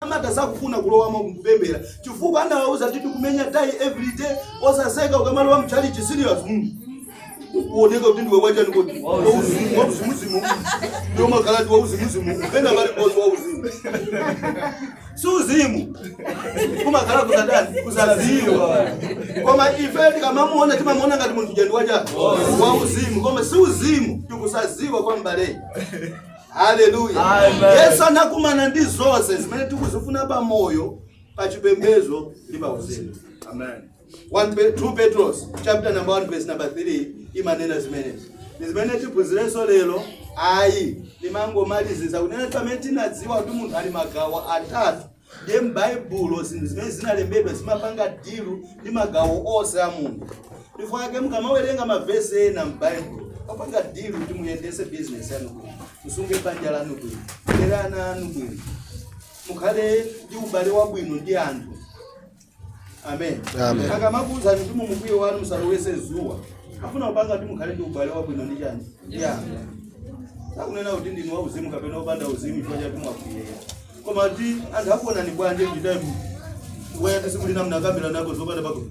amata sakufuna kulowamo kupemphera chifukwa anawauza kuti tikumenya tai everyday osaseka ukamalowa mchalichi serious mm. uoneka kuti ndiwe wachani kodi Wauzimu, wauzimuzimu ndio makalati wauzimuzimu pena pali bosi wauzimu si uzimu kumakhala kutani kusaziwa koma ife tikamamuona timamuona ngati munthu jandi wacha wauzimu koma si uzimu tikusaziwa kwa mbaleyi haleluya Amen. Yesu anakumana ndi zonse zimene tikuzifuna pa moyo pa chipembedzo ndi pa uzimu Amen. 1 Pe- 2 petros chapter number 1 verse number 3 imanena zimenezi ndi zimene tiphunzirenso lero ayi ndimangomaliziza kunena kuti pamene tinadziwa kuti munthu ali magawo atatu ndiye m'baibulo zinthu zimene zinalembedwa zimapanga dilu ndi magawo onse a munthu chifukwa ake mukamawerenga mavesi ena m'baibulo amapanga dilu kuti muyendese bizinesi yanu bwino musunge banja lanu bwino mulere ana anu bwino mukhale ndi ubale wabwino ndi anthu amen Amen. akamakuuzani kuti mumkwiyo wanu musalowetse zuwa afuna kupanga kuti mukhale ndi ubale wabwino ndi chani ya sakunena kuti ndinu wauzimu kapena opanda uzimu chifukwa chati mwakwiyera koma kuti anthu akuonani bwanje kuti time wayati sikulina mnakambira nako zopanda pakuti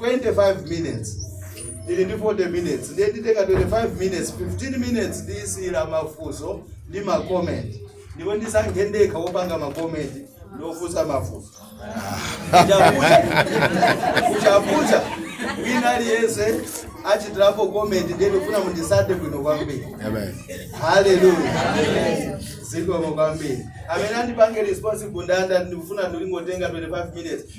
25 minutes ili ndi 40 minutes ndiye nditenga 25 minutes 15 minutes ndiyisiyira mafunso ndi macomment ndipo ndisankhe ndekha wopanga macomment ndi ofunsa mafunso kuchapucha kuchapucha wina aliyense achitirapo comment ndiye ndikufuna munditsate bwino kwambiri Amen. haleluya zikomo kwambiri amene andipange responsible ndanena kuti ndikufuna ndingotenga 25 minutes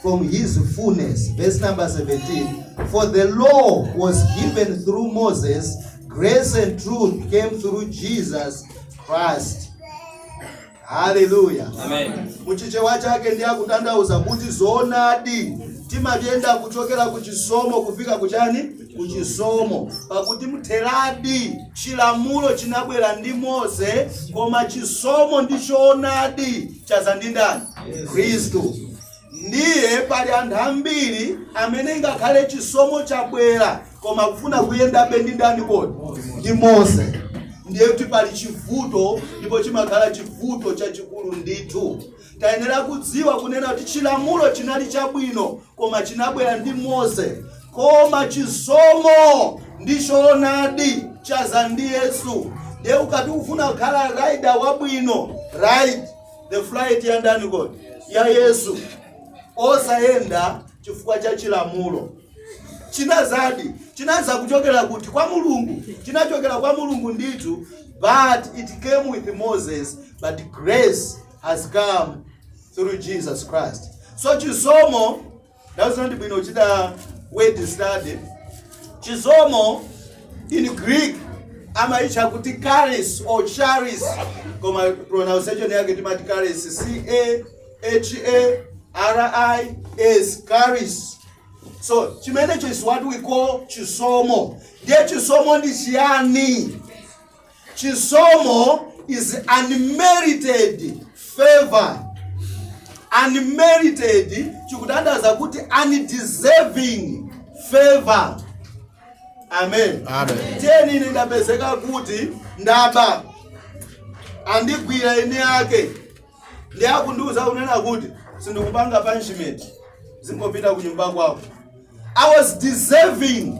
from his fullness. Verse number 17. For the law was given through Moses, grace and truth came through Jesus Christ. Hallelujah. Amen. muchichewa chake ndiye akutanthauza kuti zoonadi timayenda kuchokera ku chisomo kufika kuchani ku chisomo pakuti mtheradi chilamulo chinabwera ndi mose koma chisomo ndi choonadi chaza ndi ndani khristu ndiye pali anthu ambiri amene ngakhale chisomo chabwera koma akufuna kuyendabe ndi ndani kodi ndi mose ndiye kuti pali chivuto ndipo chimakhala chivuto chachikulu ndithu tayenera kudziwa kunena kuti chilamulo chinali chabwino Koma chinabwera ndi Mose, koma chisomo ndi choonadi chadza ndi Yesu. Ndiye ukati ukufuna kukhala rider wabwino, ride the flight ya ndani kodi? Ya Yesu. Osayenda chifukwa cha chilamulo. Chinadzadi, chinadza kuchokera kuti? Kwa Mulungu. Chinachokera kwa Mulungu ndithu, but it came with Moses, but grace has come through Jesus Christ. So chisomo that's not bwino kuchita word study. Chisomo in Greek amachitcha kuti charis or charis koma pronunciation yake timati charis C H A R I S charis. So chimenecho is what we call chisomo. Ndiye chisomo ndi chiyani? Chisomo is unmerited favor. Unmerited zikutanthauza kuti undeserving favor. Amen. Amen. Tinene ine ndapezeka kuti ndaba andigwira eni ake Ndiye akundiuza akunena kuti sindikupanga punishment. Dzingopita ku nyumba kwako. I was deserving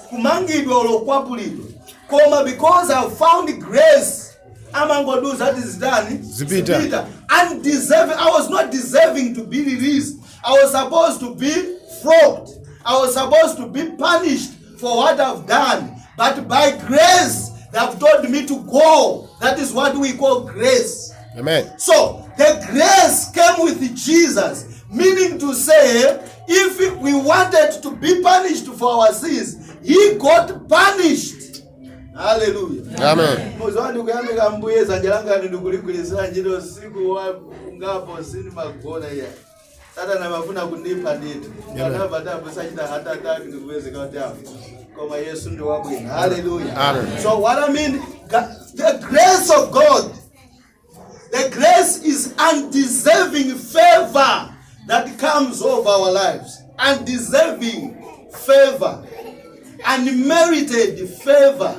kumangidwa olo kukwapulidwa. Koma because I found grace amangondiuza ati zitani Dzipita. dzipita. Undeserving I was not deserving to be released. I was supposed to be flogged. I was supposed to be punished for what I've done, but by grace they have told me to go. That is what we call grace. Amen. So the grace came with Jesus, meaning to say, if we wanted to be punished for our sins, he got punished. Hallelujah. Amen. muzwani kuyamika mbuye zanja langani ndikuligwirizira ntchito usiku wa ngapo sindimagona iya Satana amafuna kundipha ndithu. Amen. Anamva ati abusa achita heart attack ndikupezeka kuti afa. Koma Yesu ndi wabwino. Hallelujah. Amen. So what I mean, Ga- the grace of God, the grace is undeserving favor that comes over our lives. Undeserving favor. Unmerited favor.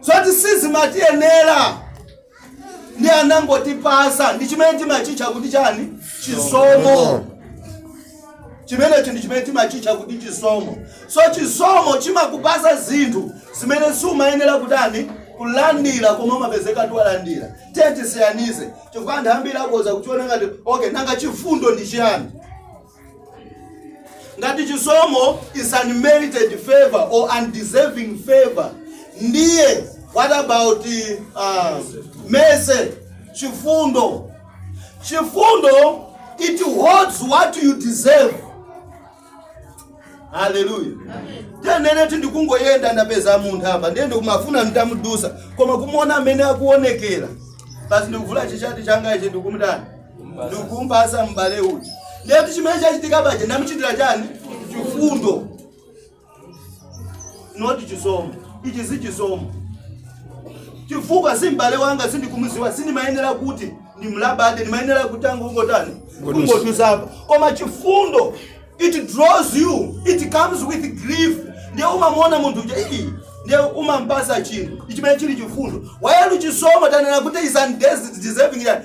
Zoti sizimatiyenera. ndiye anangotipatsa ndi chimene timachitcha kuti chani chisomo chimenechi ndi chimene timachitcha kuti chisomo so chisomo chimakupatsa zinthu zimene siumayenera kutani kulandira koma umapezeka kuti walandira tiye tisiyanize chifukwa anthu ambiri akoza kuchiona ngati okay nanga chifundo ndi chiyani ngati chisomo is unmerited favor or undeserving favor ndiye what about uh, mercy chifundo chifundo it holds what you deserve haleluya tinene kuti ndikungoyenda ndapeza munthu apa ndiye ndikumafuna nditamudutsa koma kumuona mmene akuonekera basi ndikuvula chichati changa ichi ndikumutani ndikumpasa m'bale uyu ndiye kuti chimene chachitika paja ndamuchitira chani chifundo not chisomo ichi si chisomo chifukwa si m'bale wanga sindikumuziwa sindimayenera kuti ndimlabade ndimayenera kuti ndingotani kungodutsapo koma chifundo it draws you it comes with grief ndiye umamuona munthu uja ii ndiye umampasa chinthu chimene chili chifundo while chisomo tanena kuti is undeserving yani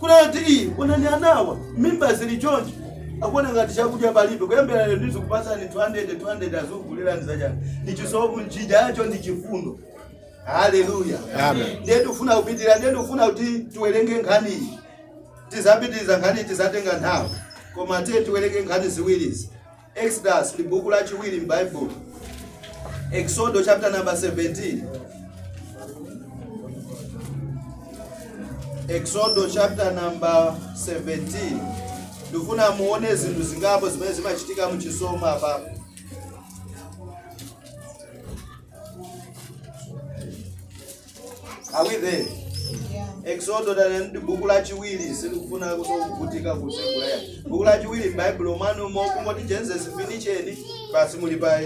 kunati ii onani anawa mimba zili chonchi akuona ngati chakudya palibe kuyambira lero ndizikupatsani 200 200 azikugulirani zachani si chisomo chimenecho ndi chifundo haleluya Amen. ndiye ndikufuna kupitira ndiye ndikufuna kuti tiwerenge nkhani iyi tizapitiriza nkhani tizatenga nthawi koma tiye tiwerenge nkhani ziwirizi Exodus ndi buku lachiwiri m'Baibulo. Exodo chapter number 17. Exodo chapter number 17. Ndikufuna muone zinthu zingapo zimene zimachitika mu chisomo apa. Are we there? Exodo tati ndi buku lachiwiri silikufunanso kuvutika kutsegulera. Buku lachiwiri m'Baibulo mwanumo kungoti Genesis finish pansi muli pa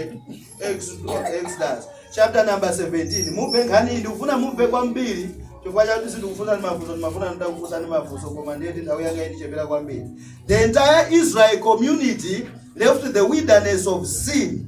Exodus Exodus. chapter number 17 mumve nkhani iyi ndikufuna mumve kwambiri chifukwa chakuti ndikufunsani mafunso ndimafuna nditakufunsani mafunso koma ndiyeti nthawi yanga ikuchepera kwambiri the entire israel community left the wilderness of sin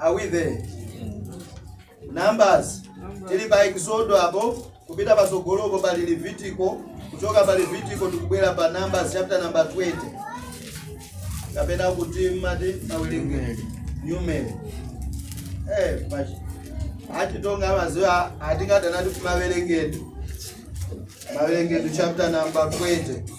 Are we there? Numbers. Tili pa Exodo apo kupita pasogolopo pali Levitiko kuchoka pa Levitiko tikubwera pa Numbers chapter number 20. Kapena kuti amati awerengedwe. Numeri. Eh, pachi. Atitonga amaziwa amati chani maWerengedu. Mawerengedu chapter number 20.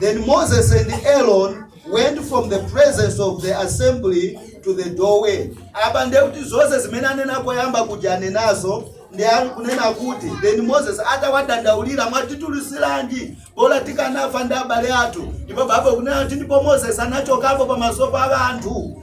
Then Moses and Aaron went from the presence of the assembly to the doorway. Apa ndiye kuti zonse zimene anena koyamba kuja anenanso ndiye akunena kuti then Moses atawadandaulira mwatitulusiranji bola tikanafa ndi abale athu ndipo Baibulo ikunena kuti ndipo Moses anachokapo pamaso pa anthu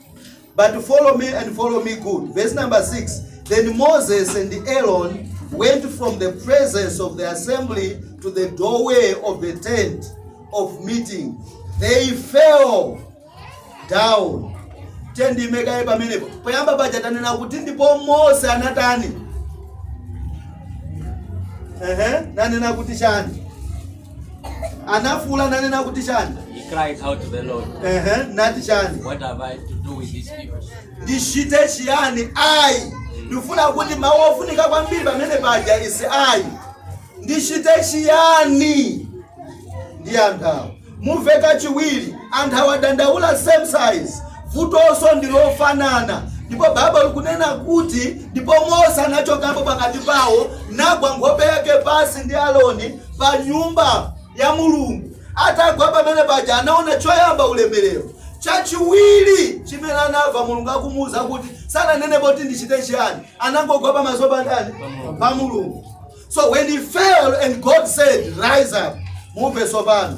But follow me and follow me good. Verse number 6. Then Moses and Aaron went from the presence of the assembly to the doorway of the tent of meeting. They fell down. Tendimekaye pamenepo. Poyamba paja tanena kuti ndipo Mose anatani. Ehe, nanena kuti chani. anafuula nanena kuti chani He cried out to the Lord, ehe nati chani What have I to do with these people? ndichite chiyani ayi ndifuna kuti mawu ofunika kwambiri pamene paja is ayi ndichite chiyani ndi anthu awa mumve kachiwiri anthu awa adandaula same size vutonso ndi lofanana ndipo baibulo likunena kuti ndipo mose anachokapo pakati pawo nagwa nkhope yake pansi ndi aloni pa nyumba ya Mulungu. Atagwa pamene paja anaona choyamba ulemerero, chachiwiri chimene anamva Mulungu akumuwuza kuti sananene poti ndichite chiyani, anangogwa pamaso pa ndani? Pa Mulungu. So when he fell and God said rise up, mumve tsopano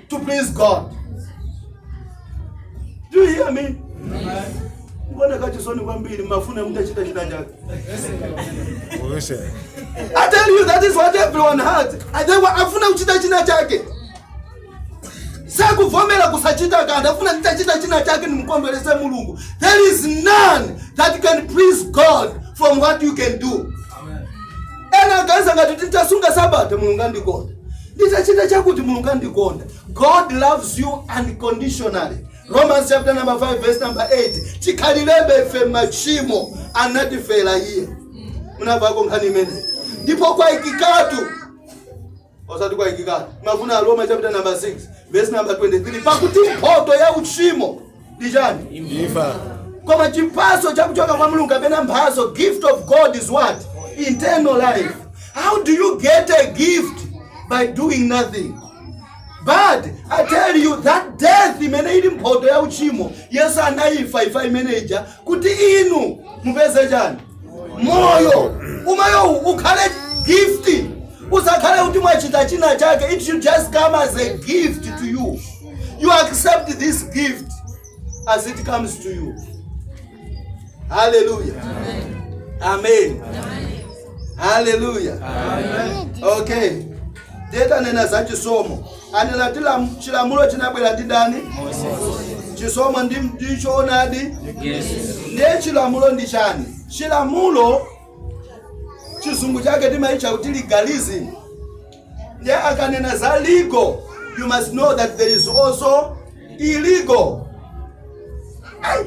to please God. Do you hear me? Ndimamva chisoni kwambiri mumafuna mutachita china chake. I tell you that is what everyone had. Anthuwa afuna kuchita china chake. sakuvomera kusachita kanthu afuna nditachita china chake ndimukondwerese mulungu there is none that can please god from what you can do ena aganiza ngati nditasunga sabata mulungu andikonda nditachita chakuti mulungu andikonda god loves you unconditionally romans chapter number 5 verse number 8 chikhalirebe ife machimo anatifera iye munamvako nkhani imeneyi ndipo kwaikikatu osati kwaikika mafunso a roma chapter number 6 verse number 23 pakuti mphoto ya uchimo ndi chani imfa koma chiphaso chakuchoka kwa mulungu kapena mphatso gift of god is what eternal life how do you get a gift by doing nothing but i tell you that death imene ili mphoto ya uchimo yesu anaifa imfa imene ija kuti inu mupeze chani moyo umenewu ukhale gift usakhale kuti mwachita china chake it should just come as a gift to you you accept this gift as it comes to you hallelujah amen hallelujah okay Ndiye tanena za chisomo. Anena kuti lam- chilamulo chinabwera ndi ndani? Chisomo ndi ndi choonadi. Ndiye chilamulo ndi chani? Chilamulo chizungu chake timachitcha kuti legalism. Ndiye akanena za legal, you must know that there is also illegal. Ayi,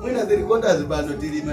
mwina tilikonda zipano tilima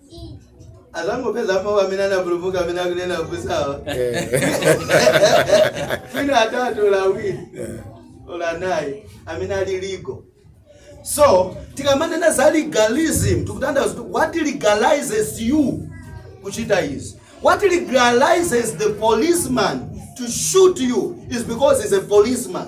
atangopeza mawu amene anapulumuka amene akunena kusawa fino atatu la awiri ola naye amene ali legal so tikamanena za legalism tikutanthauza kuti what legalizes you kuchita izi what legalizes the policeman to shoot you is because he's a policeman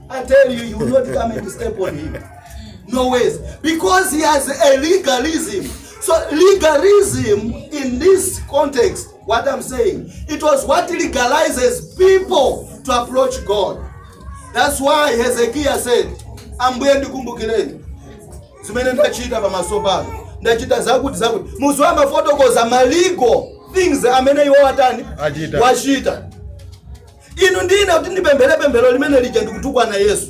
I tell you, you will not come and step on him. No ways. Because he has a legalism. So legalism in this context, what I'm saying, it was what legalizes people to approach God. That's why Hezekiah said, Ambuye ndikumbukireni zimene ndachita pamaso panu ndachita zakuti zakuti munthu amafotokoza ma legal things amene iye watani wachita Inu ndi ine kuti ndipemphere pemphero limene lija ndikutukwana Yesu.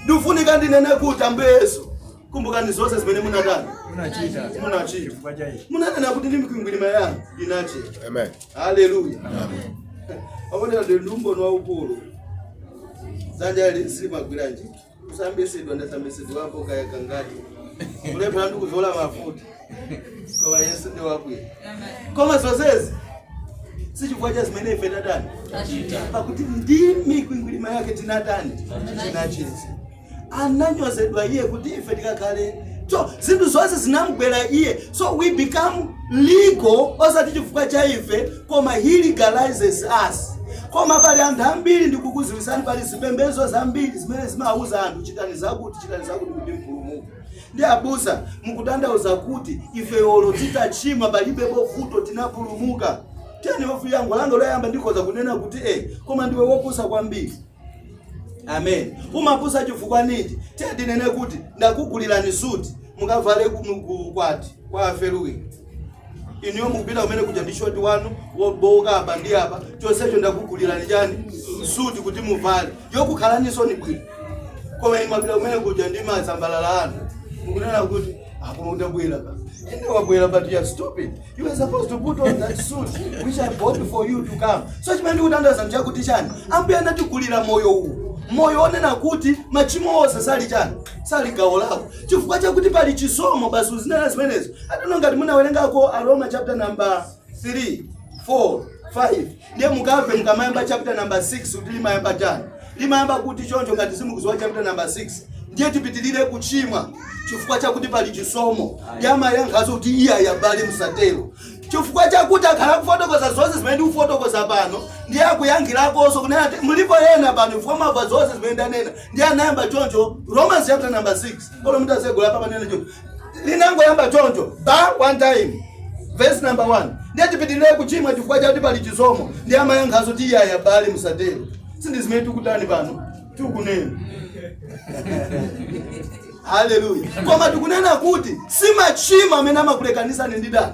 Ndikufunika ndinene kuti Ambuye Yesu, kumbukani zonse zimene munatani. Munachita. Munachita. Chifukwa cha ichi. Munanena kuti ndi mikwingwirima yanu inachira. Amen. Haleluya. Aona ndi umboni waukulu. Dzanja ili silimagwira ntchito. kusambisidwa ndasambisidwapo kaya kangati kulephera ndi kuzola mafuta koma yesu ndi wabwino koma zonsezi sichifukwa cha zimene ife tatani pakuti ndi mikwingwirima yake tinatani tinachiritsidwa ananyozedwa iye kuti ife tikakhale so zinthu zonse zinamgwera iye so we become legal osati chifukwa cha ife Koma he legalizes us. Koma pali anthu ambiri ndikukuziwisani pali zipembezo zambiri zimene zimauza anthu chitani zakuti chitani zakuti kuti mupulumuke. Ndiye abusa mukutandauza kuti ife olo titachimwa palibe vuto tinapulumuka. Tiyeni yankho langa loyamba ndikhoza kunena kuti eh koma ndiwe wopusa kwambiri. amen umapusa chifukwa ninji tiye ndinene kuti ndakugulirani suti mukavale ku- mu- ku- ukwati kwa afeluwini inuyo mukupita kumene kuja ndi shoti wanu wobowoka apa ndi apa chonsecho ndakugulirani chani suti kuti muvale yokukhalaniso bwino koma inu mwapita kumene kuja ndi mazambalala anu mukunena kuti apo ndabwera pa ine wabwera but you are stupid You were supposed to put on that suit which I bought for you to come. So chimene ndikutandauza nchakuti chani? Ambuye anatigulira moyo uwu. Moyo onena kuti machimo onse sali chani? Sali gawo lako. Chifukwa chakuti pali chisomo basi uzinena zimenezo. Tsono ngati munawerengako Aroma chapter number 3, 4, 5. Ndiye mukamve mukamayamba chapter number 6 kuti limayamba chani limayamba kuti choncho ngati simukuziwa chapter number 6 ndiye tipitirire kuchimwa chifukwa chakuti pali chisomo ndiye amayankhaso kuti iyayi abale musatero chifukwa chakuti akhala kufotokoza zonse zimene ndikufotokoza pano ndiye akuyankhirakonso kunena ati mulipo yena pano chifukwa wamva zonse zimene ndanena ndiye anayamba choncho romans chapter number 6 olo mutatsegula apa panena choncho linangoyamba choncho ba one time verse number 1 ndiye tipitirire kuchimwa chifukwa chakuti pali chisomo ndiye amayankhaso kuti iyayi abale musatero sindi zimene tikutani pano tikunena haleluya koma tikunena kuti si machimo amene amatilekanitsa ndi ndani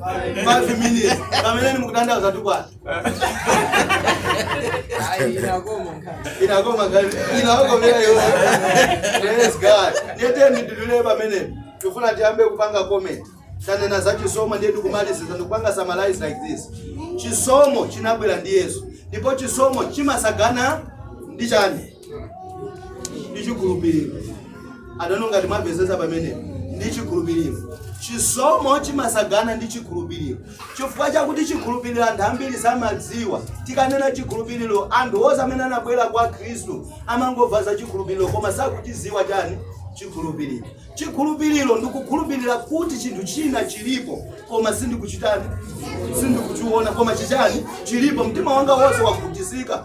5 minutes pamenepo mukutandauza tukwana inakoma kale inakoma vile yo yes god ndiye ndidule pamene tikufuna tiambe kupanga comment tanena za chisomo ndiye tikumaliza ndikupanga summarize like this chisomo chinabwera ndi yesu ndipo chisomo chimasagana ndi chani ndi chikhulupiriro abale ngati mwapezeza pamenepo ndi chikhulupiriro chisomo chimatsagana ndi chikhulupiriro chifukwa chakuti chikhulupiriro anthu ambiri samadziwa tikanena chikhulupiriro anthu onse amene anabwera kwa khristu amangomva za chikhulupiriro koma sakuchidziwa chani chikhulupiriro chikhulupiriro ndikukhulupirira kuti chinthu china chilipo koma sindikuchitani sindikuchiona koma chichani chilipo mtima wanga wonse wakhutizika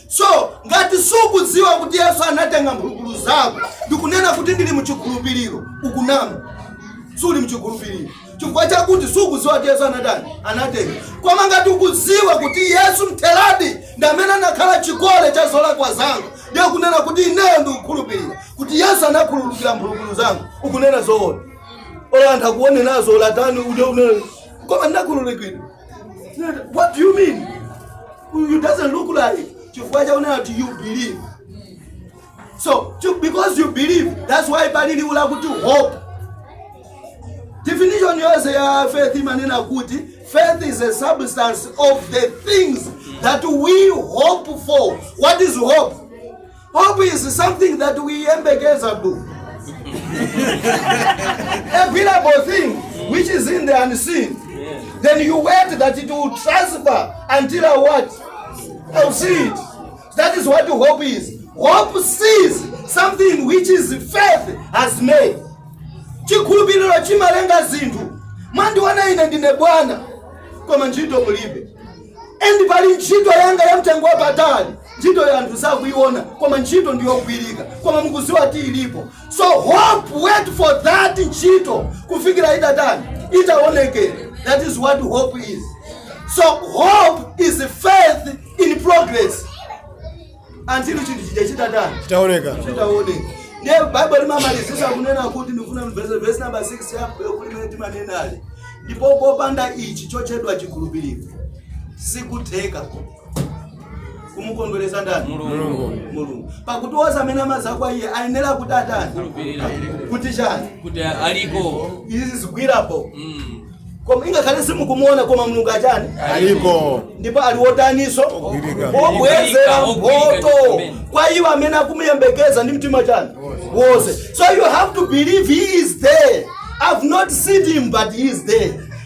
so ngati sukudziwa kuti yesu anatenga mphulupulu zako ndikunena kuti ndili mchikhulupiriro ukunama suli mchikhulupiriro chifukwa chakuti sukudziwa kuti yesu anatani anatenga koma ngati ukudziwa kuti yesu mtheradi ndi amene anakhala chikole cha zolakwa zanga nde kunena kuti ineyo ndikukhulupirira kuti yesu anakhululukira mphulupulu zanga ukunena zoona olo anthu akuone nazo atani ude unene koma ndinakhululukidwa what do you mean you doesn't look like chifukwa chakunena kuti you believe so because you believe that's why pali liwu lakuti hope definition yonse ya faith imanena kuti faith is a substance of the things that we hope for what is hope Hope is something that weyembekezable. available thing which is in the unseen. Then you wait that it will transpire until I what? I'll see it. That is what hope is. Hope sees something which is faith has made. chikhulupiriro chimalenga zinthu mwandiona ine ndine bwana koma ntchito mulibe and pali ntchito yanga ya mtengo wapatali Ntchitoyo anthu sakuiona koma ntchito ndi yogwirika koma mukuziwa kuti ilipo so hope waits for that ntchito kufikira itatani itaonekere that is what hope is so hope is faith in progress until chinthu chija chitatani chitaoneka chitaoneka ndiye baibulo limamalizisa kunena kuti ndikufuna mvese vesi namba 6 yapa yokuti imene timanenayi ndipo popanda ichi chotchedwa chikhulupiriro sikutheka kumukondweresa ndani Mulungu. mulungu pakuti wose amene amaza kwa iye ayenera kuti atani Kulupirira. kuti chani Kuti aliko. izi zigwireni apo Mm. koma ingakhale simukumuona koma mulungu achani Aliko. ndipo ali wotaniso Ogwirika. obwezera Ogwirika, mphoto ogwirika. kwa iwo amene akumuyembekeza ndi mtima chani wose so you have to believe he is there i've not seen him but he is there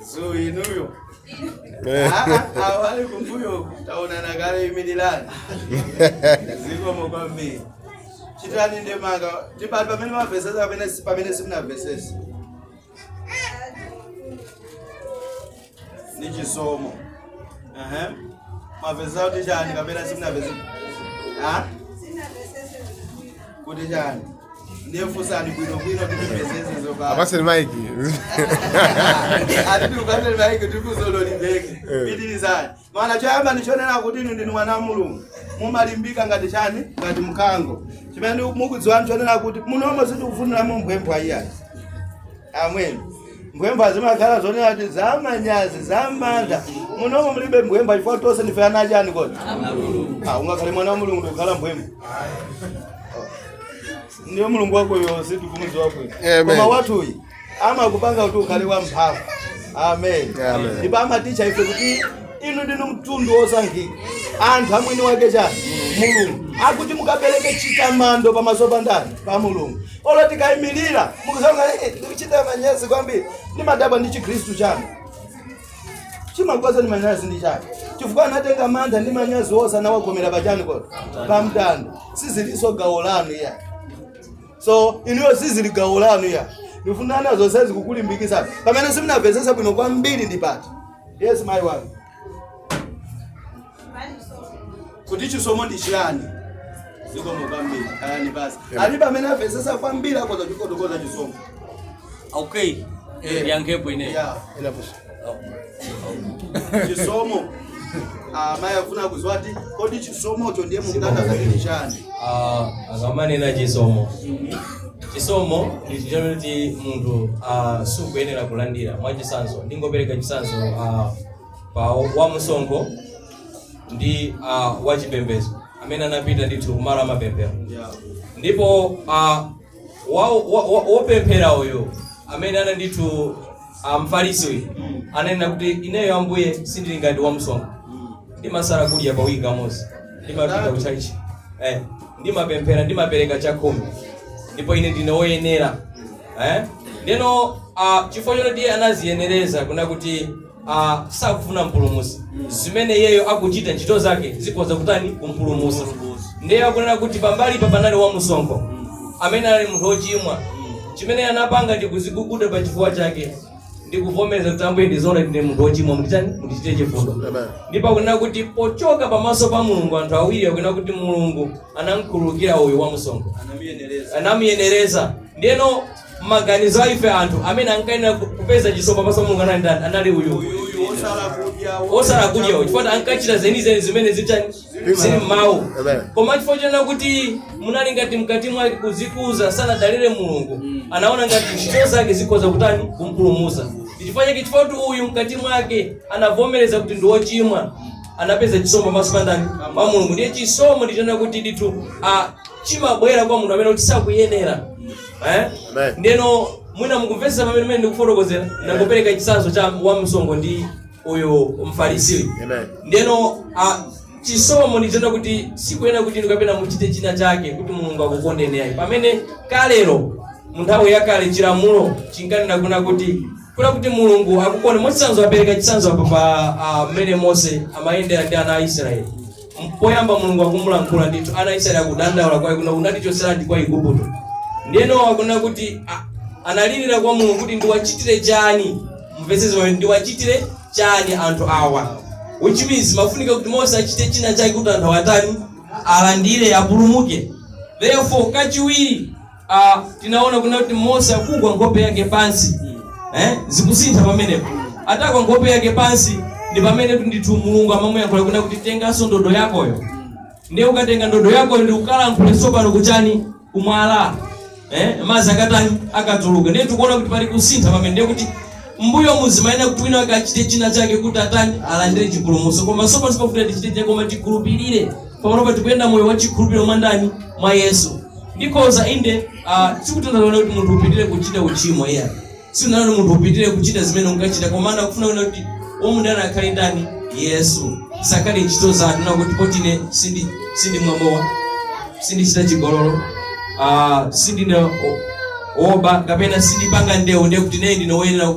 Za inuyo. Eh. Ah, ah, Abale kumbuyo taonana kale imilirani. Zikomo kwambiri. Chitani ndemanga. Ndi pati pamene mwamvesesa pamene si- pamene simunamvesese. Ndi chisomo. Aha. Mwamvesesa kuti chani kapena simunamvesese. Ah? kuti chani ndiye funsani bwinobwino timvesese apa apaseni maiki atiti tiwapaseni maiki tikuzololibeke pitilizani mana choyamba ndichonena kuti inu ndinu mwana wa mulungu mumalimbika ngati chani ngati mkango chimene mukudziwani chonena kuti munomo sitikufuniramo mphwepwa iyayi ameni Mphwepwa zimakhala zoniti zamanyazi, zamantha. Munomo mulibe mphwepwa chifukwa tonse ndife ana achani kodi? Ah, ungakhale mwana wa Mulungu ndikukhala mphwepwa. Ndiye Mulungu wakeyo sitikumudziwa bwino. Amen. Koma wathuyu amakupanga kuti ukhale wamphamvu. Amen. Amen. Ndipo amatitcha ife kuti inu ndinu mtundu wosankhika. Anthu amwini wake chani? Mulungu. Akuti mukapereke chitamando pamaso pa ndani? Pa Mulungu. Olo tikaimilira mukuwona hey, ndikuchita manyazi kwambiri ndimadabwa ndi chikhristu chanu chimakupasani manyazi ndi chani chifukwa anatenga mantha ndi manyazi onse anawakhomera pachani kodi pamtanda sizilinso gawo lanu iyayi so inuyo sizili gawo lanu iyayi ndifuna ana zonsezi kukulimbikisa pamene simunamvesese bwino kwambiri ndi pati yes mayi wanu kuti chisomo ndi chiyani zikomo kwambiri ayani basi alibe amene wamvetsetsa kwambiri akoza kufotokoza chisomo okay Eh. ndiyankhepo ineyo Yeah. chisomo amayi afuna kudziwa kuti kodi chisomocho ndiye mukutanthauza kuti ndi chani Ah, akamanena chisomo chisomo ndi chija chimeneti munthu ah, sukuyenera kulandira mwachitsanzo ndingopereka chitsanzo ah, pa wamsonkho ndi ah, wachipembedzo amene anapita ndithu kumalo amapemphero ndipo ah, wa- wa- wa- wopemphera uyu amene ana ndithu ah, mfarisi uyu ananena kuti ineyo ambuye sindili ngati wamsonkho ndimasala kudya pa wiki kamodzi ndimapita ku tchalichi eh, ndimapemphera ndimapereka chakhumi ndipo ine ndine woyenera eh? ndeno uh, chifukwa choti iye anadziyenereza kunena kuti uh, sakufuna mpulumutsi zimene iyeyo akuchita ntchito zake zikhoza kutani kumpulumutsa ndiye akunena kuti pambalipa panali wa msonkho amene anali munthu wochimwa chimene anapanga ndi kudziguguda pa chifuwa chake ndikuvomereza kuti ambuye ndizoonadi ndine munthu wochimwa munditani mundichite chifundo Amen. ndipo akunena kuti pochoka pamaso pa mulungu anthu awiri akunena kuti mulungu anamkhululukira uyu wa msonkho anamuyenereza ndiyeno maganizo a ife anthu amene ankayenera ku- kupeza chisomo pamaso pa mulungu anali ndani? anali uyu osala kudya uyu chifukwa ankachita zenizeni zimene zitani zili mmawu Amen. koma chifukwa chonena kuti munali ngati mkati mwake kudzikuza sanadalire mulungu anaona ngati ntchito zake zikhoza kutani kumpulumusa chifukwa chake chifukwa kuti uyu mkati mwake anavomereza kuti ndi wochimwa anapeza chisomo pamaso pa ndani pa mulungu ndiye chisomo ndichonena kuti ndithu ah, chimabwera kwa munthu amene kuti sakuyenera eh? Amen. ndeno mwina mukumvetsa pamene mene ndikufotokozera ndangopereka chitsanzo cha wamsonkho ndi uyu mfarisiyu Amen. ndeno ah, chisomo ndichonena kuti sikuyenera kuti inu kapena muchite china chake kuti mulungu akukondeni ayi pamene kalero mu nthawi yakale chilamulo chinkanena kunena kuti kunena kuti mulungu akukonde mwachitsanzo apereka chitsanzo apa pa ah, mmene mose amayendera ndi ana a israeli Poyamba Mulungu akumulankhula ndithu, ana a Israeli akudandaula kwa iye kuti, Unatichotseranji ku Aigupto? Ndiyeno akunena kuti a- analirira kwa Mulungu kuti ndiwachitire chani? Mumvetse zimene ndiwachitire chani anthu awa? Which means pamafunika kuti Mose achite china chake kuti anthu awa atani alandire apulumuke. Therefore kachiwiri Ah, tinaona kunena kuti mose akugwa nkhope yake pansi eh? zikusintha pamenepo atagwa nkhope yake pansi ndi pamene kuti ndithu mulungu amamuyankhula kunena kuti tenganso ndodo yakoyo ndiye ukatenga ndodo yakoyo ndi ukalankhule tsopano kuchani kumwala eh? mazi akatani akatuluke ndiye tikuona kuti pali kusintha pamene ndiye kuti mbuyo mumayenera kuti wina akachite china chake kuti atani alandire chipulumutso koma tsopano sipafunika tichite chake koma tikhulupirire pamene tikuyenda moyo wa chikhulupiriro mwa ndani mwa yesu ndikhoza inde ah, sikutanthauza kuti munthu upitire kuchita uchimo iyayi sikunena kuti munthu upitire kuchita zimene unkachita koma ndikufuna kunena kuti womudalira akhale ndani yesu zisakhale ntchito zanu kunena kuti poti ine sindi sindimwa mowa sindichita chigololo ah, sindine o- oba kapena sindipanga ndewu ndiye kuti ineyo ndine woyenera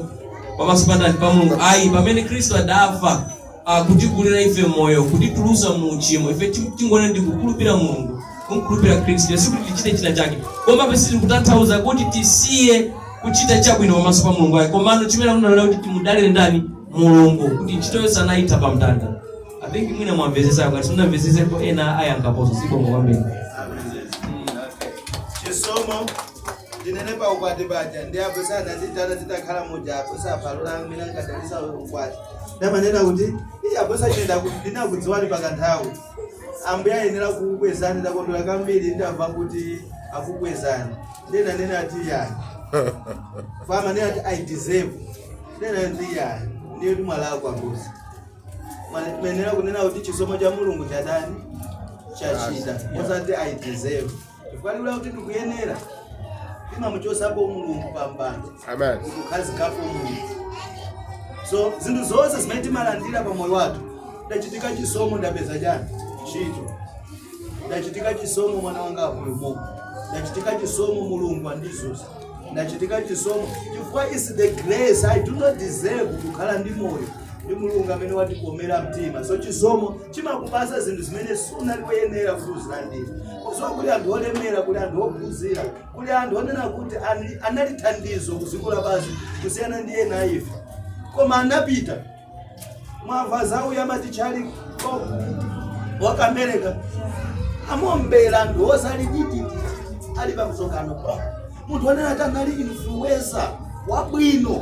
pamaso pa ndani pa mulungu ayi pamene khristu adafa ah, kutigulira ife moyo kutitulutsa mu uchimo ife ti- tingone ndi kukhulupira mulungu kumkhulupira khristu yesu sikuti tichite china chake koma sizikutanthauza kuti tisiye kuchita chabwino pamaso pa mulungu ayi komano chimene ndikunena kuti timudalire ndani mulungu kuti ntchito yonse anaitha pa mtanda i think mwina mwamvetsetsa ngati simunamvetsetsepo ena ayankhaponso zikomo kwambiri chisomo ndinene pa ukwati paja ndi apo sanatitana titakhala muja apo sapalula amene angadalitse ukwati ndimanena kuti iye abusa ine ndaku- ndinakudziwani pakanthawi ambuye ayenera kukukwezani ndakondwera kambiri ndamva kuti akukwezani ndinanena ati yani amanena ati i deserve ndinanena kuti yani ndiye kuti mwalakwa abusa mumayenera kunena kuti chisomo cha mulungu chatani chachita osati i deserve chifukwa liwu lakuti ndikuyenera limamuchotsapo mulungu pampando ukukhazikapo mulungu so zinthu zonse zimene timalandira pa moyo wathu chachitika chisomo ndapeza chani ntchito chachitika chisomo mwana wanga wapulumuka chachitika chisomo mulungu wandidzutsa chachitika chisomo chifukwa it's the grace i do not deserve kukhala ndi moyo ndi mulungu amene watikomera mtima so chisomo chimakupasa zinthu zimene sunali woyenera kuti uzilandire kudziwa kuli anthu olemera kuli anthu ophunzira kuli anthu onena kuti ani- anali thandizo kudziko lapansi kusiyana ndi ena ife koma anapita mwamva za uja amati Charlie wa ku Amereka amuombera anthu osali tititi ali pamsonkhano munthu onena kuti anali influencer wabwino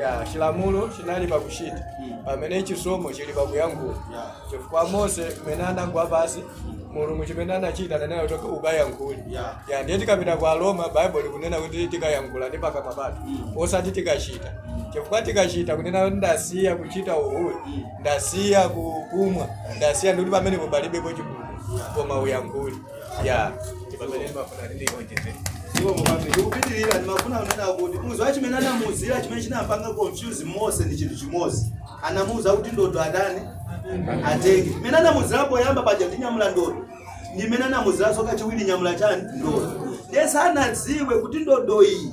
ya chilamulo chinali pakuchita pamene chisomo chili pakuyankhula chifukwa mose mmene anagwa pansi mulungu chimene anachita ananena kuti ukayankhule Yeah. ya ndiye tikapita kwa aroma baibulo likunena kuti tikayankhula ndi pakamwa pathu osati tikachita chifukwa tikachita kunena kuti ndasiya kuchita uhule ndasiya kukumwa ndasiya ndikuti pamenepo palibepo chipulumutso koma uyankhule ya ndipamene ndimafuna kuti ndionjezere iwo mukati ndikupitirira ndimafuna kunena kuti mudziwa chimene anamuuzira chimene chinampanga confuse mose ndi chinthu chimodzi anamuuza kuti ndodo atani atenge imene anamuuzira poyamba paja kuti nyamula ndodo ndi imene anamuuziranso kachiwiri nyamula chani ndodo ndiye sanadziwe kuti ndodo iyi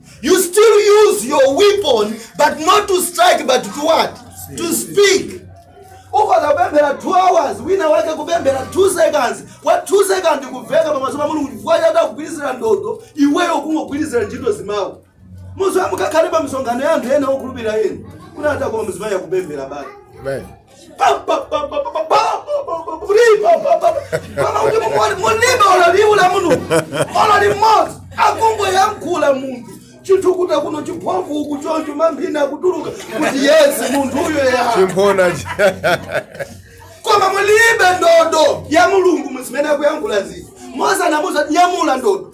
You still use your weapon, but not to strike, but to what? To speak. ukhoza kupemphera 2 hours wina wake kupemphera 2 seconds wa 2 seconds kumveka pamaso pa mulungu chifukwa chati akugwirizira ndodo iweyo ukungogwirizira ntchito zimawu mudziwa mukakhala pa misonkhano ya anthu ena okhulupirira ena kunati akoma mzimayi akupemphera bali Amen. mulibe olo liwu la mulungu olo limodzi akungoyankhula munthu chithukuta kuno chithovu uku choncho mamina akutuluka kuti yesi munthu uyo ya chimphona koma mulibe ndodo ya mulungu muzimene akuyankhula zii mose anamuuza nyamula ndodo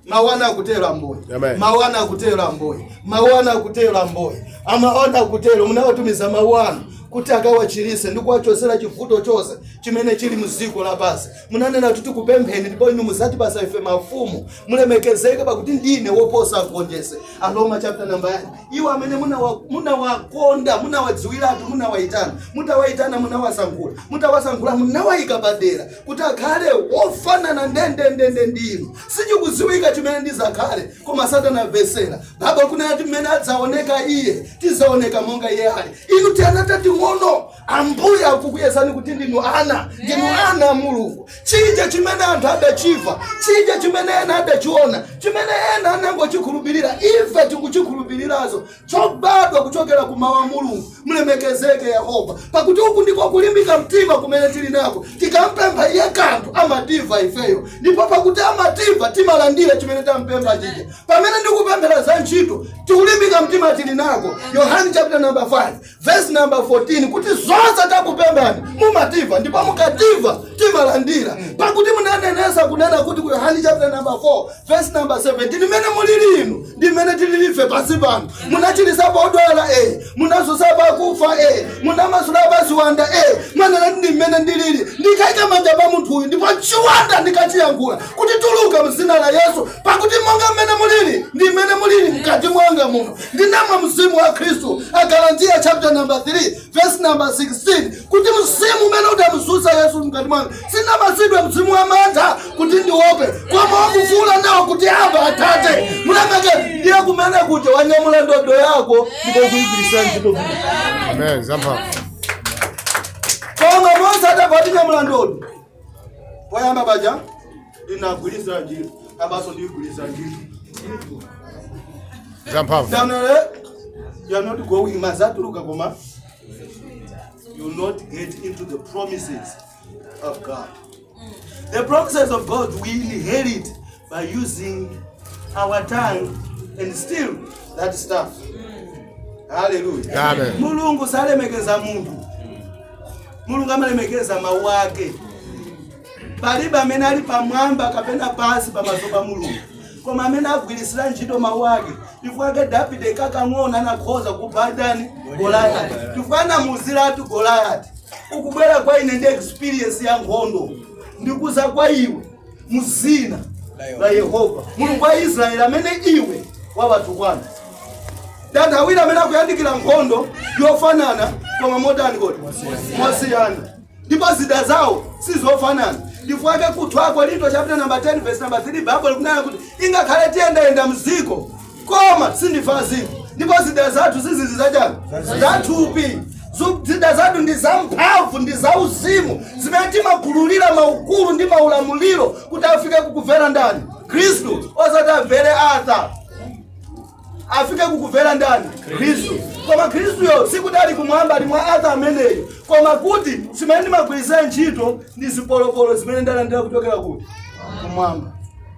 mawu anu akutero ambuye Amen. mawu anu akutero ambuye mawu anu akutero ambuye mawu anu akutero munawatumiza mawu anu kuti akawachirise ndi kuwachosera chivuto chonse chimene chili mdziko lapansi munanena kuti tikupempheni ndipo inu muzatipasa ife mafumu mulemekezeke pakuti ndine woposa agonjesi aroma chapter number 9 iwo amene munawa- munawakonda munawadziwiratu munawayitana mutawayitana munawasankhula mutawasankhula munawayika padera kuti akhale wofanana ndendendende ndi inu sichikudziwika chimene ndizakhale koma satana mvesera baba kunena kuti mmene adzaoneka iye tizaoneka monga iye ali inu tiana tating'ono ambuye akukuyesani kuti ndinu ana ndinu ana a mulungu chija chimene anthu adachiva chija chimene ena adachiona chimene ena anangochikhulupirira ife tikuchikhulupirirazo chobadwa kuchokera ku Mawu a Mulungu. Mlemekezeke Yehova! Pakuti uku ndiko kulimbika mtima kumene tili nako. Tikampempha Iye kanthu, amatimva ifeyo. Ndipo pakuti amatimva, timalandira chimene tampempha chija. Pamene ndikupemphera za ntchito, ndi kulimbika mtima tili nako. Yohane chapter number 5. Vesi namba 14 kuti zonse tikakupemphani mumativa ndipo mukativa timalandira pakuti munanenesa kunena kuti ku yohani chapter namba 4 vesi namba 17 mmene mulili inu ndi mmene tilili ife pansi pano munachilisapo odwala e munazusapo akufa e munamasulapo aziwanda e munanena ndi mmene ndilili ndikaika manja pa munthu uyu ndipo chiwanda ndikachiyankhula kuti tuluka mzina la yesu pakuti monga mmene mulili ndi mmene mulili mkati mwanga muno Ndinamwa Mzimu wa Khristu, Agalatiya chapter number 3 verse number 16 kuti mzimu umene udamzutsa Yesu mkati mwanga sindinapatsidwe mzimu wa mantha kuti ndiope, koma wakufuula nawo kuti aba Atate mulemekezeke ndiye kunena kuti wanyamula ndodo yako ndipo ukuigwiritsa ntchito bwino. Amen. Zamphamvu. Koma Mose adangoti nyamula ndodo poyamba paja ndinagwiritsa ntchito apanso ndigwiritsa ntchito zamphamvu January, you are not going muzatuluka koma you will not get into the promises of God. The promises of God we inherit by using our tongue and still that staff. Hallelujah. Amen. Mulungu salemekeza munthu. Mulungu amalemekeza mawu ake. Palibe amene ali pamwamba kapena pansi pamaso pa Mulungu. Koma amene agwiritsira ntchito mawu ake. Chifukwa chake Davide kakang'ono anakhoza kupha ndani? Goliyati. Chifukwa anamuuziratu Goliyati. Ukubwera kwa ine ndi experience ya nkhondo. Ndikuza kwa iwe. mu dzina la yehova mulungu wa israeli amene iwe wawatukwana anthu awiri amene akuyandikira nkhondo yofanana koma modani mosiyana ndipo zida zawo sizofanana chifukwa chake ku 2 akorinto chapter number 10 verse number 3 bible ikunena kuti ingakhale tiyendayenda mziko koma sitili adziko ndipo zida zathu siziri zachani zathupi Zu- zida zathu ndi zamphamvu ndi zauzimu zimene timagululira maukulu ndi maulamuliro kuti afike kukumvera ndani khristu osati amvere Atta afike kukumvera ndani khristu koma khristuyo sikuti ali kumwamba ali mwa Atta ameneyu koma kuti zimene ndimagwiritsira ntchito ndi zipolopolo zimene ndalandira kuchokera kuti kumwamba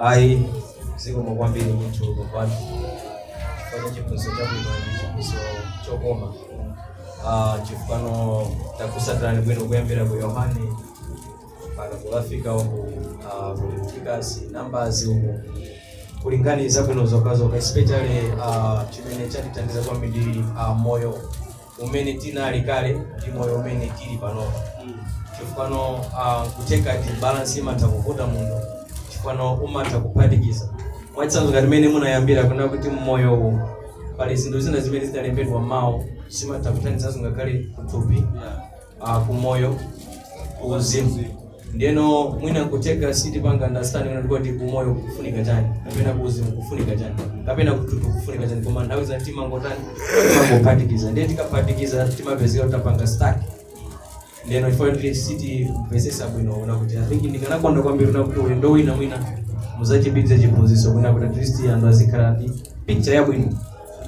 Ayi, zikomo kwambiri ndithu bambo athu chifukwa cha chiphunzitso chabwino ndi chiphunzitso chokoma Ah, chifukano takutsatirani bwino kuyambira ku yohane mpaka kukafika uku ah, ku levitikasi nambazi uku kulinganiza bwino zokhazokha especially ah, chimene chatithandiza kwambiri ah, moyo umene tinali kale ndi moyo umene tili panopa chifukano uh, kutheka kuti balansi imatha kuvuta munthu chifukano umatha kuphatikiza mwachitsanzo ngati mmene munayambira kunena kuti mmoyo uwu pali zinthu zina zimene zidalembedwa mawu zimatha kuthandizanso ngakhale kuthupi uh, ku moyo ku uzimu ndeno mwina nkutheka sitipanga understand kuti kuti ku moyo kufunika chani kapena ku uzimu kufunika chani kapena kuthupi kufunika chani koma nthawi zambiri timangotani timangophatikiza ndiye tikaphatikiza timapezeka tutapanga stuck ndeno chifukwa kuti sitimvetsetsa bwino kunena kuti i think ndikanakonda kwambiri kunena kuti ulendo wina mwina muzachibwereze chiphunzitso mwina kuti at least anthu azikhala ndi picture yabwino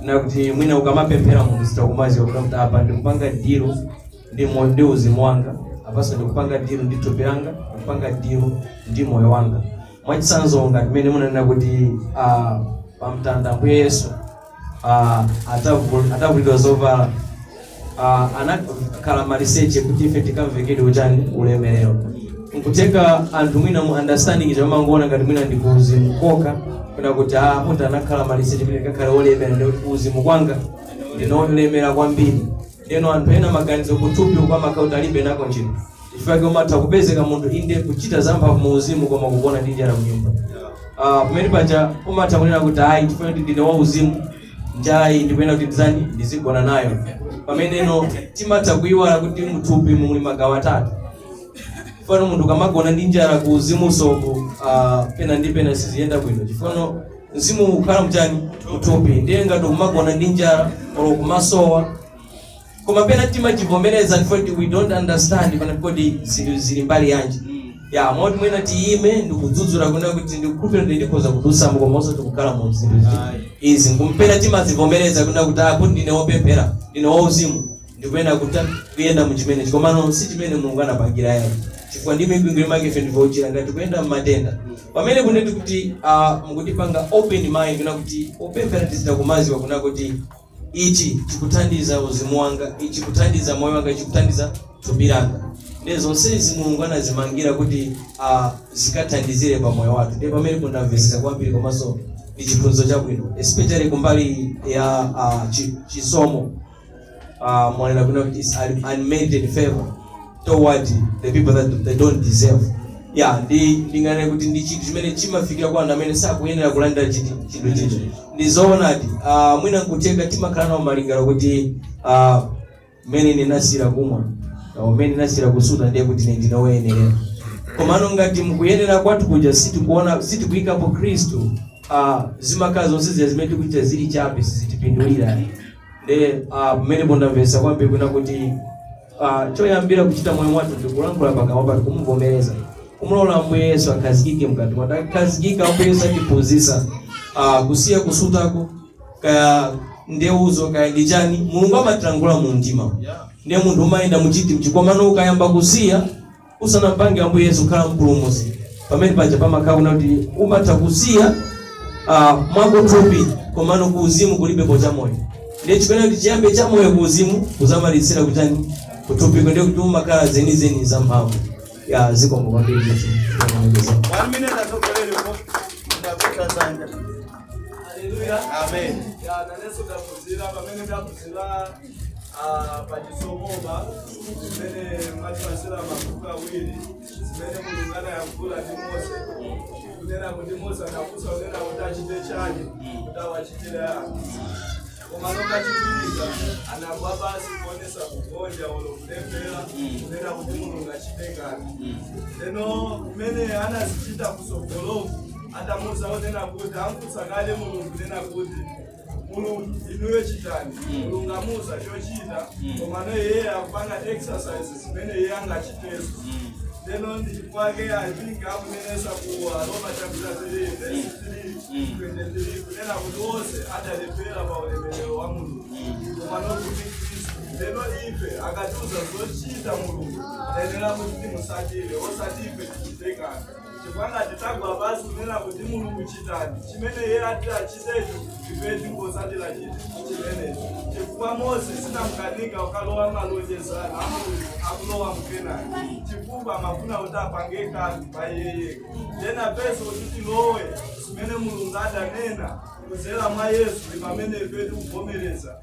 na kuti mwina ukamapemphera munthu uzitha kumaziwa kuti kuti apa ndikupanga dilu ndi mo- ndi uzimu wanga apanso ndikupanga dilu ndi thupi langa ndikupanga dilu ndi moyo wanga mwachitsanzo ngati mmene munanena kuti ah, pamtanda mbuye yesu ah, atavu- atavulidwa zovala ah, anakhala maliseche kuti ife tikavekedwe chani ulemerero nkutheka anthu mwina mu understanding timangoona ngati mwina ndi kuuzimu kokha kunena kuti ah munthu anakhala maliseche kuti ndikakhale wolemera ndi kuti kuuzimu kwanga ndine olemera kwambiri ndeno anthu ena maganizo kuthupi kwawo amakhala kuti alibe nako ntchito chifukwa chake umatha kupezeka munthu inde kuchita zamphamvu mu uzimu koma kugona ndi njala mnyumba Ah, pamene paja umatha kunena kuti ayi chifukwa kuti ndine wauzimu njalayi ndikuyenera kuti ndizani ndizigona nayo pameneno timatha kuyiwala kuti mthupi muli magawo atatu chifano munthu ukamagona ndi njala ku uzimu ukonso uh, pena ndi pena siziyenda bwino chifano mzimu ukukhala mchani muthupi ndiye ngati ukumagona ndi njala olo kumasowa koma pena timachivomereza ndipo ndi- we don't understand pana kodi zinthu zili mbali yanji ya moti mwina tiyime ndikudzudzula kunena kuti ndikukhulupira kuti ndikhoza kudusamo koma osati kukhala mu zinthu zi- izi mwina pena timazivomereza kunena kuti apo ndine wopemphera ndine wauzimu ndikuyenda kuta kuyenda mu chimenechi komano si chimene mulungu anapangira yayi chifukwa ndi mipingo inayake ife ndikuchira ngati kuyenda mmatenda pamene kunena kuti ah, mukutipanga open mind kunena kuti opemphera tichita kumaziwa kunena kuti Ichi chikuthandiza uzimu wanga, ichi chikuthandiza moyo wanga, ichi chikuthandiza thupi langa. Ndiye zonsezi Mulungu anazimangira kuti ah, zikathandizire pa moyo wathu. Ndiye pamene ndamvesesa kwambiri komanso ndi chiphunzitso chabwino especially kumbali ya ah, chi- chisomo uh, mwanena bwino kuti is un- unmerited favor toward the people that they don't deserve ya ndi ndinganene kuti ndi chinthu chimene chimafikira kwa anthu amene sakuyenera kulandira chinthu chinthu chija ndi zoonadi uh, mwina nkutheka timakhala nawo malingaliro kuti uh, mmene ndinasira kumwa uh, mmene ndinasira kusuta ndiye kuti ine ndinoyenera komano ngati nkuyenera kwathu kuja sitikuona sitikuyikapo khristu uh, zimakhala zonse zimene tikuchita zili chabe sizitipindulira nde ah, pamene ndamvetsa kwambiri kunena kuti ah, choyambira kuchita moyo wathu ndikulankhula pakamwa pathu kumuvomereza kumulola ambuye yesu akhazikike mkati mwathu akakhazikika ambuye yesu atiphunzitsa ah, kusiya kusutako kaya ndewuzo kaya ndi chani mulungu amatilankhula mu mtima ndiye munthu umayenda mu chiti mchi komano ukayamba kusiya Usanampange Ambuye Yesu kukhala mpulumusi pamene paja pamakhala kunena kuti umatha kusiya ah, mwakuthupi komano ku uzimu kulibeko cha moyo ndiye chikunena kuti chiyambe cha moyo ku uzimu kuzamalitsira kutani kuthupiko ndiye kuti umakhala zenizeni za mphamvu ya zikomo kwambiri ndithu. One minute atsogoleri po. Ndakuta zanja. Amen. pachisomopa zimene mwatipatsira mabuku awiri zimene mulungu anayankhula ndi mose kunena kuti mose anafunsa kunena kuti achite chani kuti awachitire anthu koma nkachitikira anagwa pansi kuonesa kugonja olo kulephera kunena kuti mulungu achite kanthu ndiyeno zimene anazachita kusogoloku atamuza onena kuti amufunsa kale mulungu kunena kuti Mulungu inuyo chitani Mulungu amuuza chochita komano iye akupanga exercise zimene iye angachitezo lero ndi chifukwa chake i think akunenetsa ku aroma chapter 3 verse 3 23 kunena kuti onse adaperewera pa ulemerero wa mulungu komano kuti khristu lero ife akatiuza zochita mulungu tayenera kuti timusatire osati ife tichite kanthu chifukwa ngati tagwa pansi kunena kuti mulungu chitani chimene iye ati achitecho ife tingotsatira chiti chimenecho chifukwa mose anamkanika kukalowa malonjezano a mulungu akulowa mkenani chifukwa amafuna kuti apange kanthu pa iye yekha ndiye pa ife kuti tilowe zimene mulungu adanena kudzera mwa yesu ndi pamene ife tikuvomereza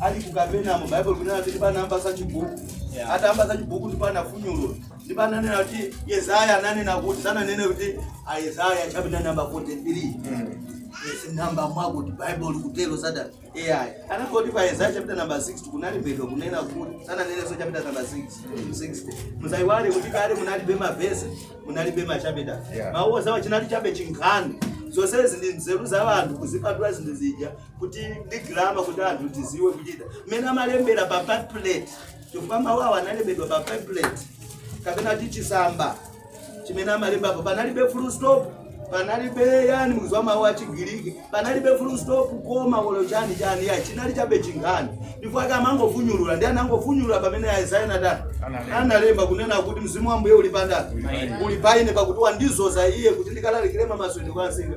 ali ku kapernao baibulo kunena kuti ndipo anayamba za chibuku Yeah. atayamba za chibuku ndipo anafunyulula ndipo ananena kuti yesaya ananena kuti sananene kuti a yesaya chapita namba 43 Yes, namba mwakuti baibulo kutero silitero ayi anangoti pa yesaya chapita namba 60 kunalembedwa kunena kuti sananenenso chapita namba 6 60 musaiwale kuti kale munalibe mavesi munalibe machapita Yeah. mawu onsewa chinali chabe chinkhani zonsezi ndi nzeru za anthu kuzipatula zinthu zija kuti ndi grama kuti anthu tidziwe kuchita mmene amalembera pa pamphlet chifukwa mawu awo analembedwa pa pamphlet kapena kuti chisamba chimene amalembapo panalibe full stop panalibe yani mizu ya mawu achigiriki panalibe full stop koma kolon chani chani ya chinali chabe chinkhani ndipo anthu amangofunyulula ndi anangofunyulula pamene a yesaya anatani analemba kunena kuti mzimu wa ambuye uli pa ndani uli pa ine pakuti wandidzoza ine kuti ndikalalikire mamasulidwe kwa ansinga